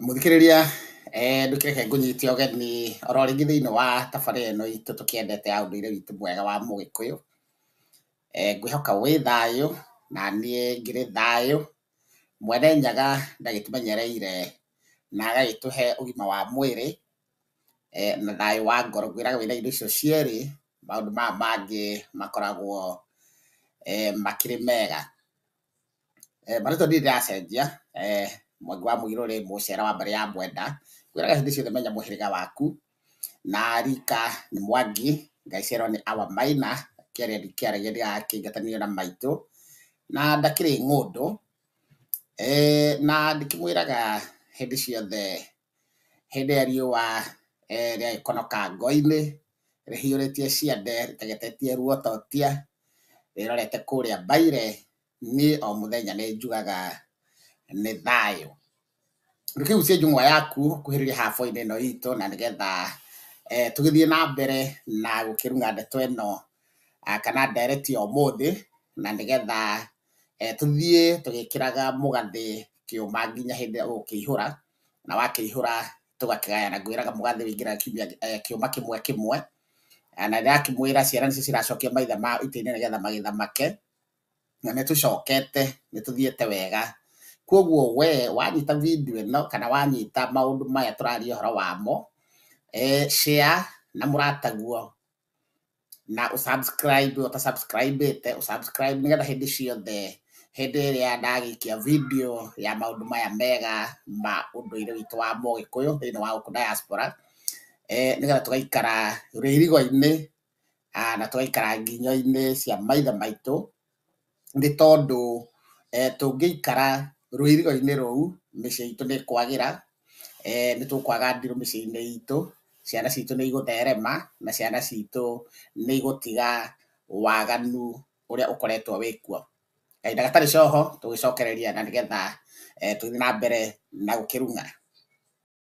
Mũthikĩrĩria eh, ndũkĩreke ngũnyite ũgeni oro rĩngĩ thĩinĩ wa tabarĩra ĩno itũ tũkĩendete ya ũndũire witũ mwega wa mũgĩkũyũ eh, ngwĩhoka wĩ thayũ na niĩ ngĩrĩ thayũ mwene nyaga ndagĩtũmenyereire na agagĩtũhe ũgima wa mwĩrĩ eh, na thayũ wa ngoro ngwĩraga wĩna indo icio cierĩ maũndũ maya mangĩ makoragwo eh, makĩrĩ mega Marĩtwa ndirĩ ndĩracenjia, Mwangi wa Mũirũ rĩ, Mũcera wa mbarĩ ya Mwenda, ngwĩraga hĩndĩ ciothe menya mũhĩrĩga waku, na rika nĩ Mwangi, ngaciarwo nĩ Awa Maina, kĩarĩa ndikĩaragia ndĩrakĩingatanio na maitũ, na ndakĩrĩ ng'ũndũ, na ndĩkĩmwĩraga hĩndĩ ciothe hĩndĩ ĩrĩa riũa rĩagĩkonoka ngwa-inĩ rĩhiũrĩtie ciande rĩtegetetie ruototia rĩrorete kũrĩa mbaire, niĩ o mũthenya nĩ njugaga nĩ thayũ. Reke rĩu ũcenjie njũng'wa yaku ũkuhĩrĩrie hab-inĩ ĩno itũ na nĩgetha tũgĩthiĩ na mbere na gũkĩruga ndeto ĩno kana ndereti ya ũmũthĩ na nĩgetha tũthiĩ tũgĩkĩraga mũgathĩ kĩũma nginya hĩndĩ ĩrĩa ũgũkĩihũra. na wakĩihũra tũgakĩgayana ngwĩraga mũgathĩ wĩingĩraga kiumia eh, kĩũma kĩmwe kĩmwe Eh, na ndĩrakĩmwĩra ciana nĩcio ciracokia maitha ma itĩ-inĩ nĩgetha magĩthamake na nĩ tũcokete nĩ tũthiĩte wega kwoguo we wanyita video ĩno kana wanyita maũndũ maya tũraria ũhoro wamo eh, share na mũrataguo na ũsubscribe ũtasubscribe te ũsubscribe nĩgetha hĩndĩ ciothe hĩndĩ ĩrĩa ndagĩikia video ya maũndũ maya mega ma ũndũire witũ wa Mũgĩkũyũ thĩinĩ wa gũkũ diaspora eh, nĩgetha tũgaikara rĩrigo-inĩ ah, na tũgaikara nginyo-inĩ cia maithe maitũ nĩ tondũ tũngĩikara rũirigo-inĩ rũu mĩciĩ itũ nĩ ĩkwagĩra, nĩ tũkwaga ndirũ mĩciĩ-inĩ itũ, ciana citũ nĩ igũtherema na ciana citũ nĩ igũtiga waganu ũrĩa ũkoretwo wĩ kuo. Kahinda gatarĩ coho tũgĩcokereria na nĩgetha tũthiĩ na mbere na gũkĩruga.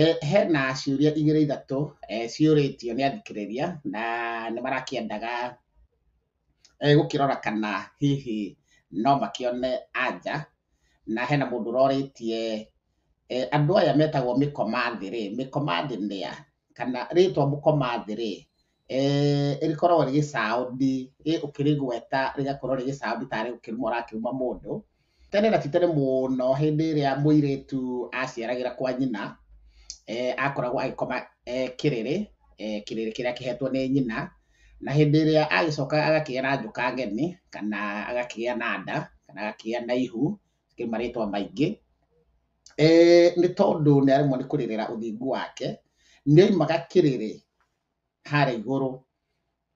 Eh, hena ciũria igĩrĩ ithatũ eh, ciũrĩtio nĩ athikĩrĩria na nĩ marakĩendaga eh, gũkĩrora kana hihi no makĩone anja na hena mũndũ ũrorĩtie eh, andũ aya metagwo mĩkomathĩ rĩ mĩkomathĩ nĩa kana rĩtwa mũkomathĩ rĩ rĩkoragwo rĩgĩ sound ũkĩrĩgweta rĩgakorwo rĩgĩ sound tarĩ kũruma ũrakĩruma mũndũ. Tene na ti tene mũno hĩndĩ ĩrĩa mũirĩtu aciaragĩra kwa nyina, akoragwo agĩkoma kĩrĩrĩ, kĩrĩrĩ kĩrĩa kĩhetwo nĩ nyina, na hĩndĩ ĩrĩa agĩcoka agakĩgĩa na njoka ngeni, kana agakĩgĩa na nda, kana agakĩgĩa na ihu, nĩ marĩtwa maingĩ, nĩ tondũ nĩ aremwo nĩ kũrĩrĩra ũthingu wake, nĩ oimaga kĩrĩrĩ harĩa igũrũ,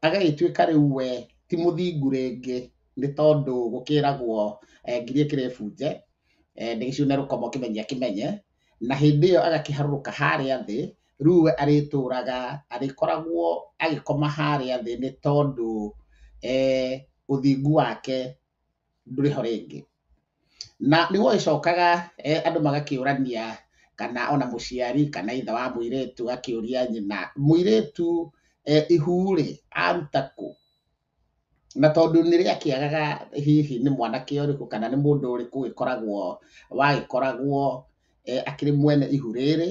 agagĩtuĩka rĩu we ti mũthingu rĩngĩ nĩ tondũ gũkĩragwo ngirie kĩrĩbunje, ndĩgĩcũne na rũkomo kĩmenyia kĩmenye, na hĩndĩ ĩyo agakĩharũrũka harĩa thĩ, rĩu we arĩtũraga arĩkoragwo agĩkoma harĩa thĩ nĩ tondũ ũthingu wake ndũrĩ ho rĩngĩ. Na nĩ gwacokaga andũ magakĩũrania kana ona mũciari kana ithe wa mũirĩtu agakĩũria nyina, mũirĩtu ihu rĩ, aruta kũ? Na tondũ nĩ rĩakĩagaga hihi nĩ mwanake ũrĩkũ kana nĩ mũndũ ũrĩkũ ũgĩkoragwo wagĩkoragwo akĩrĩ mwene ihu rĩrĩ,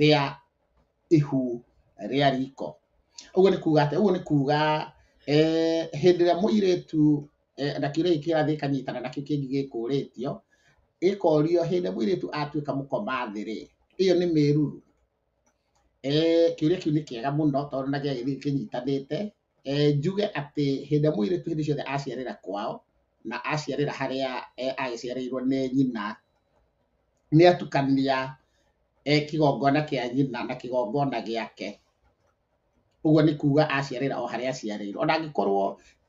rĩa ihu rĩa riko. Ũguo nĩ kuga atĩa? Ũguo nĩ kuga hĩndĩ ĩrĩa mũirĩtu na kĩũria gĩkĩ kĩrathiĩ gĩkanyitana na kĩu kĩngĩ gĩkũrĩtio, gĩkorio hĩndĩ ĩrĩa mũirĩtu atuĩka mũkomathĩ-rĩ, ĩyo nĩ mĩruru? Kĩũria kĩu nĩ kĩega mũno tondũ ona gĩagĩthiĩ kĩnyitanĩte e, njuge atĩ hĩndĩ ĩrĩa mũirĩtu hĩndĩ ciothe aciarĩra kwao na aciarĩra harĩa e, agĩciarĩirwo nĩ nyina nĩ atukania e, kĩgongona kĩa nyina na kĩgongona gĩake ũguo nĩ kuga aciarĩra o harĩa aciarĩirwo ona angĩkorwo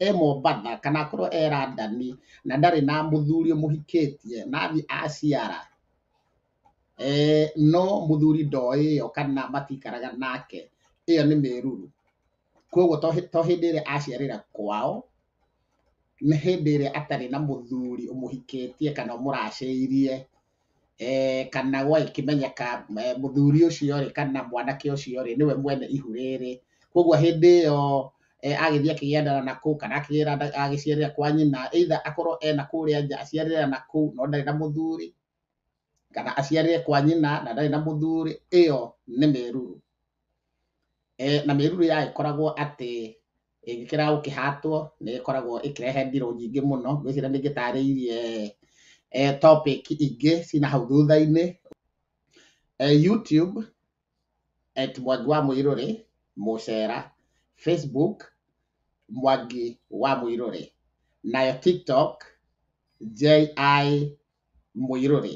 e mombatha kana akorwo e randani na ndarĩ na mũthuri mũhikĩtie na athiĩ aciara e, no mũthuri ndoĩ ĩyo kana matikaraga nake ĩyo nĩ mĩruru Koguo to hĩ- to hĩndĩ ĩrĩa aciarĩra kwao, nĩ hĩndĩ ĩrĩa atarĩ na mũthuri ũmũhikĩtie kana ũmũracĩirie, eh, kana gwagĩkĩmenyeka eh, mũthuri ũcio-rĩ kana mwanake ũcio-rĩ nĩwe mwene ihu rĩrĩ. Koguo hĩndĩ ĩyo eh, agĩthiĩ akĩgĩandana na kũu kana akĩgĩra- agĩciarĩra kwa nyina either akorwo ena kũrĩa nja aciarĩra na kũu no ndarĩ na mũthuri, kana aciarĩre kwa nyina na ndarĩ na mũthuri, ĩyo nĩ mĩruru. E, na mĩruru ya ĩkoragwo atĩ ĩngĩkĩra gũkĩhatwo nĩ ĩkoragwo ĩkĩrehe ndirũ nyingĩ mũno, ngwĩciria nĩ ngĩtarĩirie e, topic ingĩ cina hau thutha-inĩ. E, YouTube at Mwangi wa Mũirũrĩ mũcera, Facebook Mwangi wa Mũirũrĩ, nayo TikTok JI mũirũrĩ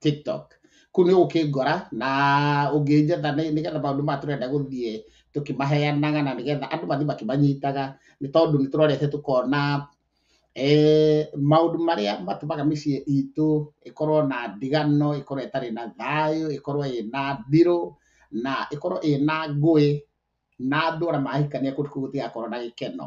tiktok kũ nĩ ũkĩngora na ũngĩnjetha nĩgetha maũndũ maya tũrenda gũthiĩ tũkĩmaheanaga na nĩgetha andũ mathiĩ makĩmanyitaga nĩ tondũ nĩ tũrorete tũkona eh, maũndũ marĩa matũmaga mĩciĩ itũ ĩkorwo na ndigano ĩkorwo ĩtarĩ na thayũ ĩkorwo ĩna ndirũ na ĩkorwo ĩna ngũĩ na andũ ona mahikania kũndũ kũu gũtigakorwo na gĩkeno